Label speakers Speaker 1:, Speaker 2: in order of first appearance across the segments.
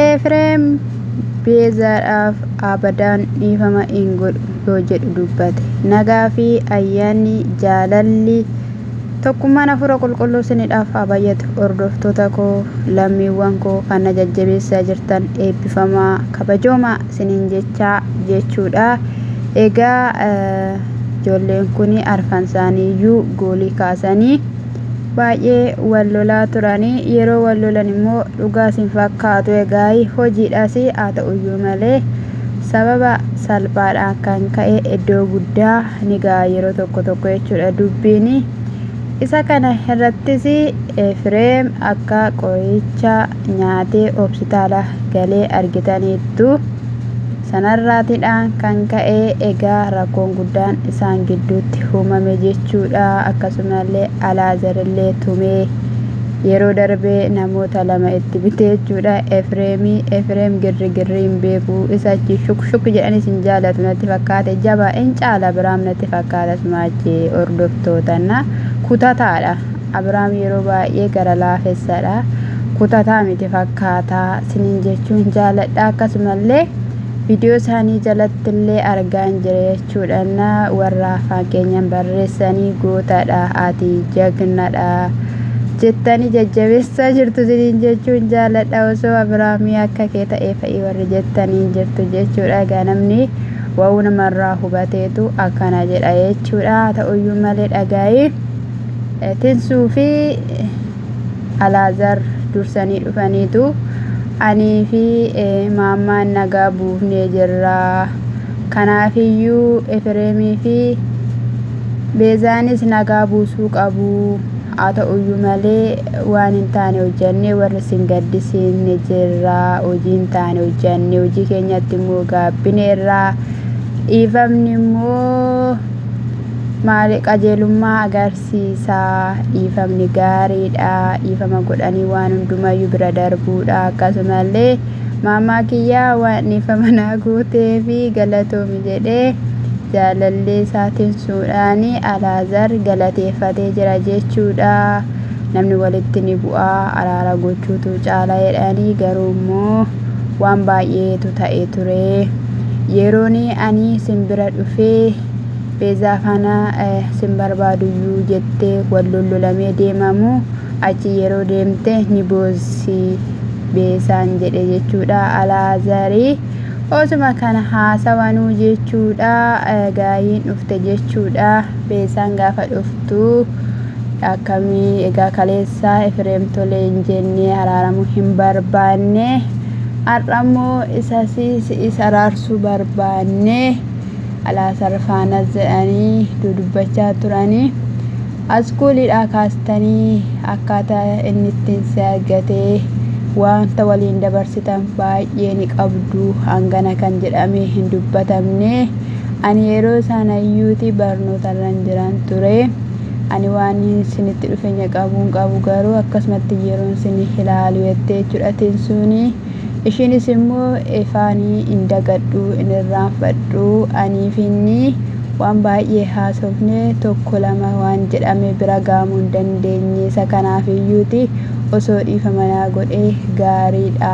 Speaker 1: Efreem Beezaadhaaf abadaan dhiifama hin godhu yoo jedhu dubbate. Nagaa fi ayyaanni, jaalalli, tokkummaan Hafuura Qulqulluu isinidhaaf haa baay'atu. Hordoftoota koo, lammiiwwan koo kan na jajjabeessaa jirtan eebbifamaa, kabajoomaa isiniin jechaa jechuudha. Egaa ijoolleen kun arfan isaaniiyyuu goolii kaasanii baay'ee wal lolaa turani yeroo wal lolan immoo dhugaas hin fakkaatu egaayi hojiidhaas haa ta'uyyuu malee sababa salphaadhaan kan ka'e iddoo guddaa ni ga'a yeroo tokko tokko jechuudha dubbiin isa kana irrattis fireem akka qoricha nyaatee hospitaala galee argitaniittu. Sanarraatidhaan kan ka'e egaa rakkoon guddaan isaan gidduutti uumame jechuudha. Akkasumallee Alaazarillee tumee yeroo darbe namoota lama itti bite jechuudha. Efreemii Efreem girrigirrii hin beeku isa achi shuk shuk jedhanis hin jaalatu natti fakkaate jabaa in caala biraam natti fakkaata sumaachi hordoftootana kutataadha. Abiraam yeroo baay'ee gara laafessadha. Kutataa miti fakkaata sinin jechuun jaaladha. Akkasumallee viidiyoo isaanii jalattillee argaan jira jechuudhaan warra afaan keenyaan barreessanii gootadha ati jagnadha jettanii jajjabeessaa jirtu sinin jechuun jaaladha. Osoo Abiraamii akka kee ta'ee fa'i warri jettaniin jirtu jechuudha. Egaa namni wa'uu namarraa hubateetu akkana jedha jechuudha. Haa ta'uyyuu malee dhagaa'ii. Tinsuu fi Alaazar dursanii dhufaniitu anii fi Maammaan nagaa buufnee jirra. Kanaafiyyuu Efireemii fi Beezaanis nagaa buusuu qabu. Haa ta'uyyuu malee waan hin taane hojjannee warri isin gaddisiifne jirra. Hojii hin taane hojjanne hojii keenyatti immoo gaabbineerra. Dhiifamni immoo Maali qajeelummaa agarsiisa dhiifamni gaariidha dhiifama godhanii waan hundumayyuu bira darbuudha akkasumallee maamaa kiyyaa waan dhiifama naa gootee fi galatoomi jedhee jaalallee isaa tinsuudhaan alaazar galateeffatee jira jechuudha namni walitti ni bu'a araara gochuutu caala jedhanii garuu immoo waan baay'eetu ta'e ture yeroon ani simbira dhufee Beezaa faana sin barbaaduyyuu jettee wal lollolamee deemaa moo achi yeroo deemte ni boossi Beezaan jedhe jechuudha Alaazari osuma kana haasawanuu jechuudha gaayiin dhufte jechuudha Beezaan gaafa dhuftu akkamii egaa kaleessaa Efireem tolee hin jennee araaramuu hin barbaanne har'ammoo isas is araarsuu barbaanne Alaasaar faanas jedhanii dudubbachaa turanii askuulidhaa kaastanii akkaataa inni ittiin si argatee waanta waliin dabarsitan baay'ee ni qabdu hangana kan jedhamee hin dubbatamne ani yeroo saanayyuuti barnootarran jiran ture ani waan isinitti dhufeenya qabuun qabu garuu akkasumatti yeroon sin ilaalu jettee jechuudha tinsuuni Ishiinis immoo, Efa ani hin dagadhu, hin irraanfadhu, anii fi inni waan baay'ee haasofne, tokko lama waan jedhame bira ga'amuu hin dandeenye, isa kanaaf iyyuu ti, osoo dhiifama naa godhee gaarii dha.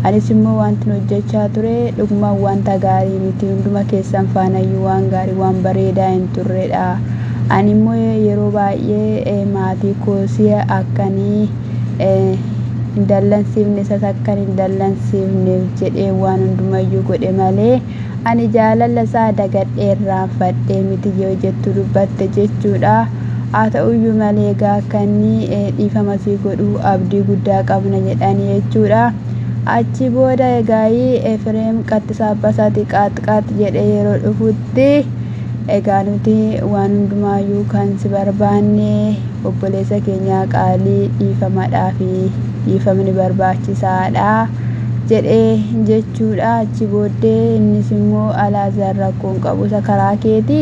Speaker 1: Anis immoo waantin hojjechaa ture dhugumaan wanta gaarii miti, hunduma keessan faana iyyuu waan gaarii, waan bareedaa hin turre dha. Ani immoo yeroo baay'ee maatii koo si'a akka ani. hin dallansiifne isas akkan hin dallansiifneef jedhee waan hundumayyuu godhe malee ani jaalala isaa dagadhee irraanfadhee miti yoo jettu dubbatte jechuudha haa ta'uyyuu malee egaa akka inni dhiifama sii godhu abdii guddaa qabna jedhani jechuudha achi booda egaayii Efreem qaxxisaabbasati qaaxqaax jedhee yeroo dhufutti Egaa nuti waan hundumaayyuu kan si barbaanne obboleessa keenyaa qaalii dhiifamadhaafi dhiifamni barbaachisaadha jedhe jechuudha achi booddee innis immoo Alaazaar rakkoon qabu isa karaa keeti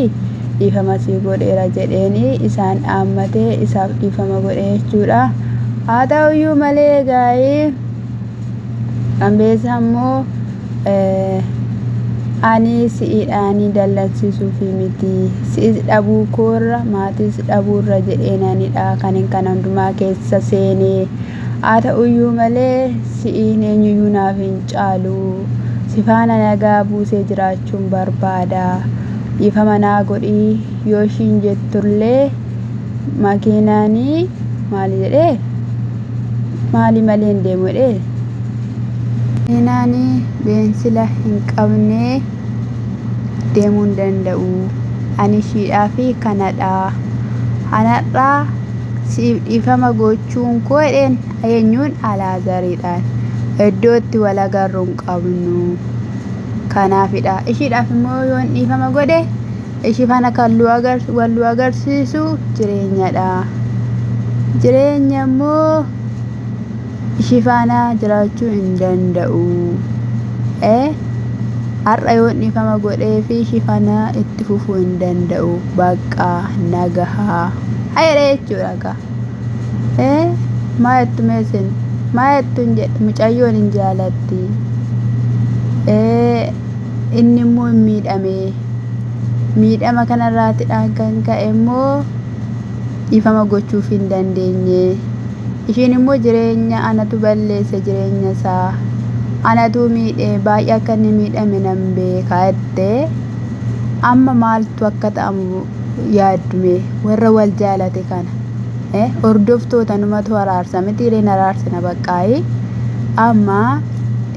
Speaker 1: dhiifama sii godheera jedheen isaan dhaammate isaaf dhiifama godhe jechuudha haa ta'uyyuu malee egaa Ambeesaa immoo ani si'idhaanii dallansiisuufi miti si'is dhabuu koorra maatiis dhabuurra jedheenanidha kanin kana hundumaa keessa seene haa ta'uyyuu malee si'iin eenyuyyuu naaf hin caalu sifaana nagaa buusee jiraachuun barbaada dhiifama naa godhii yoo ishiin jettullee makiinaanii maali jedhee Maali malee hin deemu jedhee? Makiinaan beensila hin qabne deemuu hin danda'u. Ani ishiidhaa fi kanadha. Anarraa siif dhiifama gochuun koo jedheen eenyuun Alaazaridhaan. Iddoo itti wal agarru hin qabnu. Kanaafidha. Ishiidhaaf immoo yoon dhiifama godhe Ishii faana kan wal nu agarsiisu jireenyadha. Jireenya immoo ishii faana jiraachuu hin danda'u. Har'a yoon dhiifama godhee fi ishii faana itti fufuu hin danda'u. Bakka nagahaa. Hayadha jechuudha kaa. Maa jettu meesin? Maa jettu hin jedhe mucayyoon hin jaalatti. Inni immoo hin miidhamee. Miidhama kanarraatidhaan kan ka'e immoo dhiifama gochuuf hin dandeenye. Ishiin immoo jireenya anatu balleesse jireenya isaa anatu miidhe baay'ee akka inni miidhame nan beeka jette. Amma maaltu akka ta'amu yaaddume warra wal jaalate kana. Hordoftoota numatu araarsa mitiiree naraarsina baqqaayi. Amma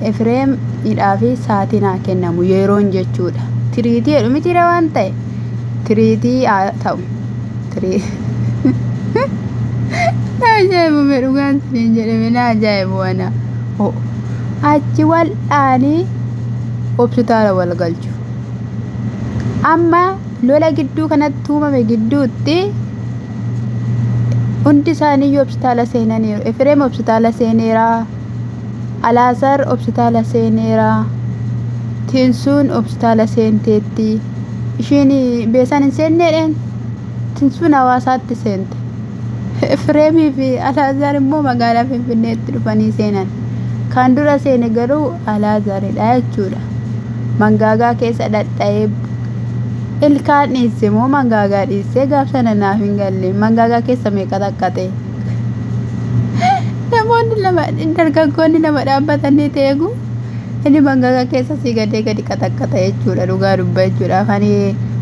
Speaker 1: Efreem hidhaa fi saatiin haa kennamu yeroon jechuudha. Tiriitii jedhu mitiiree waan ta'e tiriitii haa ta'u. Na ajaa'ibu mee dhugaan siniin jedhe mee na ajaa'ibu ana. Achi wal'aanii hospitaala wal galchu. Amma lola gidduu kanatti uumame gidduutti hundi isaanii hospitaala seenaniiru. Efreem hospitaala seeneeraa. Alaazaar hopsitaala seeneera. Tinsuun hopsitaala seenteetti. Ishiin beesaan hin seenneedheen. Tinsuun hawaasaatti seente. Efreemii fi Alaazaar immoo magaalaa Finfinneetti dhufanii seenan. Kan dura seene garuu Alaazaaridha jechuudha. Mangaagaa keessa dhadha'ee ilkaan dhiisse moo mangaagaa dhiisse gaaf sana naaf hin galle. Mangaagaa keessa meeqa xaqqaxe? namoonni lama dargaggoonni lama dhaabbatanii ta'e eegu inni mangaga keessa sii gadee gadi qaxaqqaxa jechuudha dhugaa dubba jechuudha kan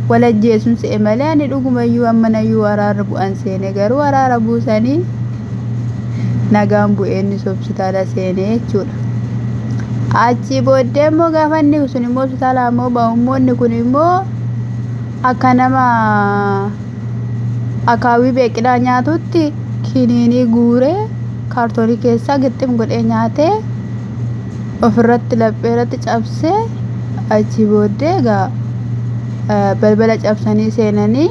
Speaker 1: wal ajjeesuun se'e malee ani dhugumayyuu ammanayyuu waraarra bu'an seene garuu waraara buusanii nagaan bu'ee inni hospitaala seene jechuudha. Achii booddee immoo gaafa inni sun immoo hospitaala ammoo ba'u immoo inni kun immoo akka nama akaawwii beeqilaa nyaatutti kiniinii guuree kaartoonii keessaa gixxim godhee nyaatee ofirratti lapheerratti cabsee achi booddee egaa balbala cabsanii seenanii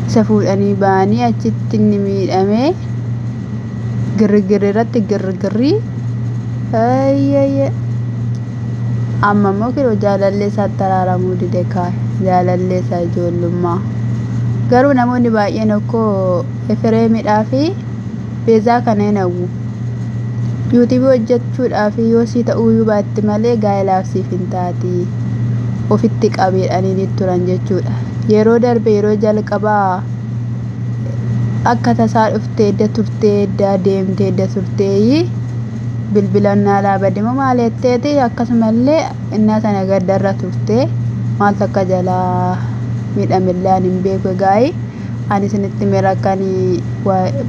Speaker 1: isa fuudhanii ba'anii achitti inni miidhamee girrigirri irratti girrigirrii ayyayyee. Amma immoo kinoo jaalallee isaatti araaramuu dide kaa jaalallee isaa ijoollummaa. Garuu namoonni baay'een okkoo Efireemidhaa fi Beezaa kana hin hawwu. Yuutuubii hojjechuudhaaf yoo sii ta'uuyuu baatti malee gaa'elaaf siif hin taati. Ofitti qabiidhaniinii turan jechuudha. Yeroo darbe yeroo jalqabaa akka tasaa dhuftee edda turtee edda deemtee edda turteeyii. bilbilan naalaa bademo maal jetteeti akkasumallee innaa sana gaddarra turte maaltu akka jalaa miidhamellee ani hin beeku egaa'ii ani isinitti mira kan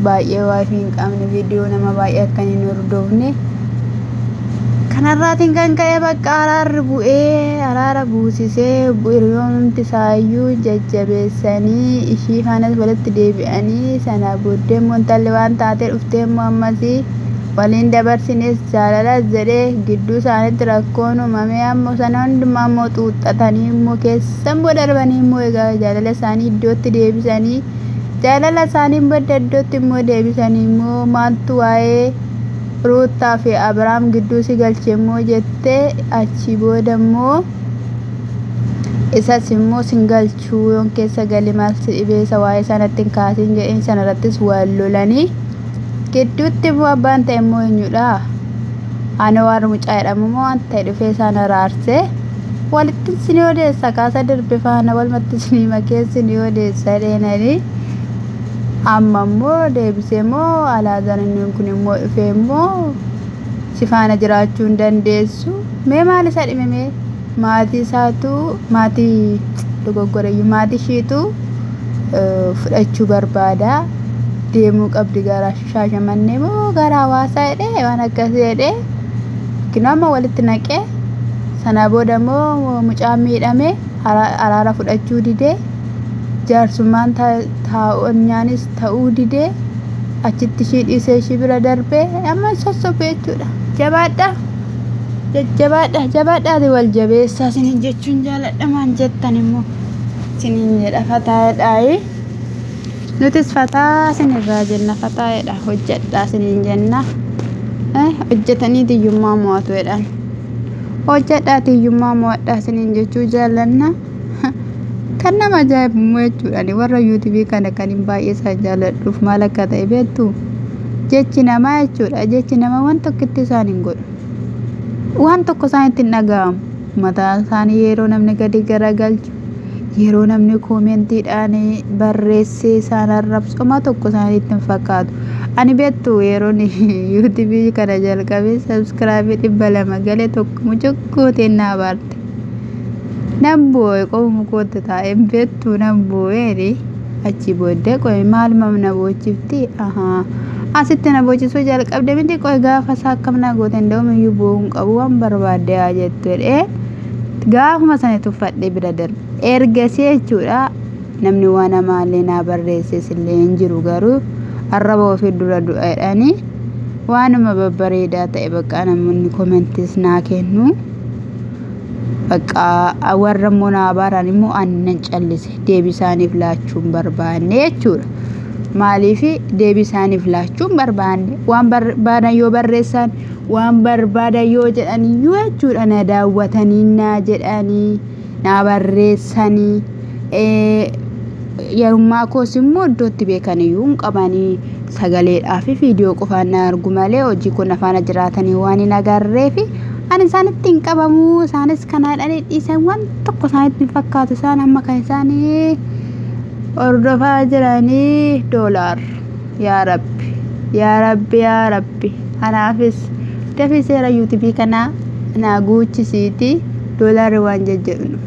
Speaker 1: baay'ee waayifii hin qabne viidiyoo nama baay'ee akka hin hordofne kanarraatiin kan ka'e bakka araarri bu'ee araara buusisee hiriyoonumti isaayyuu jajjabeessanii ishii faanas walitti deebi'anii sana booddee immoo intalli waan taatee dhuftee immoo ammasii Wal hin dabarsines jaalalas jedhee gidduu isaanitti rakkoon uumamee ammoo sana hundumaa immoo xuuxxatanii immoo keessa immoo darbanii immoo egaa jaalala isaanii iddootti deebisanii jaalala isaanii badda iddootti immoo deebisanii immoo maaltu waa'ee ruuttaa fi abrahaam gidduu si galche immoo jettee achii booda immoo isas immoo sin galchu. Shuu yoon keessa gale maal si dhibee isa waa'ee isaa natti hin kaasiin jedheen sana irrattis wal lolanii gidduutti immoo abbaan ta'e immoo eenyudha ana waan mucaa jedhamu immoo waan ta'e dhufee isaan araarsee walitti isin odeessa kaasa dirbi faana walumatti isin makee isin odeessa dheenanii amma immoo deebisee immoo alaazaan inni kun immoo dhufee immoo si faana jiraachuu hin dandeessu mee maal isa dhimimee Maatii isaatu maatii dogoggoreyyuu maatii ishiitu eh, fudhachuu barbaada deemuu qabdi gara shaashamannee moo gara hawaasaa jedhee waan akkasii jedhee yookiin amma walitti naqee sana booda immoo mucaan miidhame hara- araara fudhachuu didee jaarsummaan ta- taa'onyaanis ta'uu didee achitti ishii dhiisee ishii bira darbee amma sossobu jechuudha jabaadha. jajjabaadha jabaadhaati wal jabeessaa isinin jechuun jaaladha maan jettan immoo isinin jedha fataayadhaayi nutis fataa isinirraa jenna fataayadha hojjedhaa isinin jenna Eh, hojjetanii tiyyummaa mo'atu jedhan hojjedhaa tiyyummaa mo'adhaa isinin jechuu jaallanna kan nama ajaa'ibu immoo jechuudha ani warra yuutuubii kana kan hin baay'ee isaa jaalladhuuf maal akka ta'e beektu jechi namaa jechuudha jechi namaa waan tokkotti isaan hin godhu waan tokko isaanitti hin dhaga'amu mataa isaanii yeroo namni gadi garagalchu yeroo namni koomentiidhaan barreessee isaan arrabsu homaa tokko isaanitti hin fakkaatu ani beektu yeroon yuutuubii kana jalqabee sabskraabii dhibba lama galee tokko mucuqqootiin naa baarte Nan boo'e qomuma kootti taa'e hin beektu nan boo'eeni achi booddee qo'e maal mam na boochifti ahaa asitti na boochisuu jalqabde miti qo'e gaafa isaa akkam na goote hin da'uun iyyuu boo'uu hin qabu waan barbaadde haa jettu jedhee gaafuma sana tuffadhee bira darbe ergasii jechuudha namni waan amaallee naa barreesses illee hin jiru garuu arraba ofii dura du'a jedhanii waanuma babbareedaa ta'e bakka namoonni komentis naa kennu. Baqqaa warra immoo na abaaraan immoo ani nan callise deebii isaaniif laachuu hin barbaanne jechuudha. Maaliif deebii isaaniif laachuu hin barbaanne waan barbaadan yoo barreessan waan barbaadan yoo jedhan iyyuu jechuudha na daawwatanii na jedhanii na barreessanii. Yarummaa koos immoo iddoo itti beekan iyyuu hin qaban. Sagaleedhaa fi viidiyoo qofaan na argu malee hojii koo na faana jiraatanii waan hin agarreef ani isaanitti hin qabamu. Isaanis kan haadhanii dhiisan waan tokko isaanitti hin fakkaatu. Isaan amma kan isaanii hordofaa jiranii doolaar. Yaa Rabbi! Yaa Rabbi! Yaa Rabbi! Anaafis dafii seera yuutubii kanaa naa guuchisiitii doolaarri waan jejjedhu.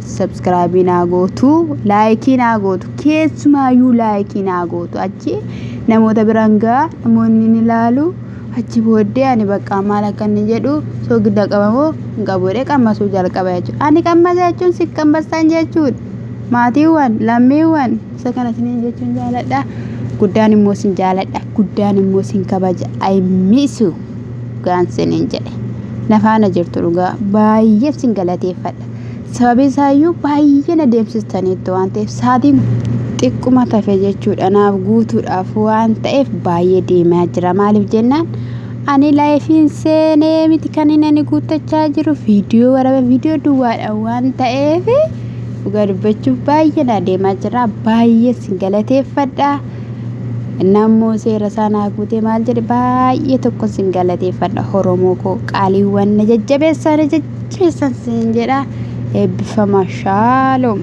Speaker 1: Subscribe naa gootu, like naa gootu, keessumaayyuu like naa gootu. Achi namoota biraan gaa namoonni ni ilaalu. Achi booddee ani bakka maal akka inni jedhu soogidda qabamoo hin qabuudhee qammasuu jalqaba jechuudha. Ani qammasa jechuun si qammasaan jechuudha. Maatiiwwan, lammiiwwan isa kana isiniin jechuun jaaladha. Guddaan immoo isin jaaladha. Guddaan immoo isin kabaja. I miss you. Gaan isiniin jedhe. Na faana jirtu dhugaa baay'ee isin galateeffadha. Sababiin isaayyuu baay'ee na deemsistaniitti waan ta'eef sa'aatiin xiqquma tafe jechuudha naaf guutuudhaaf waan ta'eef baay'ee deemaa jira maaliif jennaan ani laayifiin seenee miti kan inni ani guuttachaa jiru viidiyoo waraaba viidiyoo duwwaadha waan ta'eef dhugaa dubbachuuf baay'ee na deemaa jira baay'ee sin galateeffadha nammoo seera isaa naa guutee maal jedhe baay'ee tokko sin galateeffadha horomoo koo qaaliiwwan na jajjabeessaa na jajjabeessaa keessan siin jedha eebbifamaa shaaloom.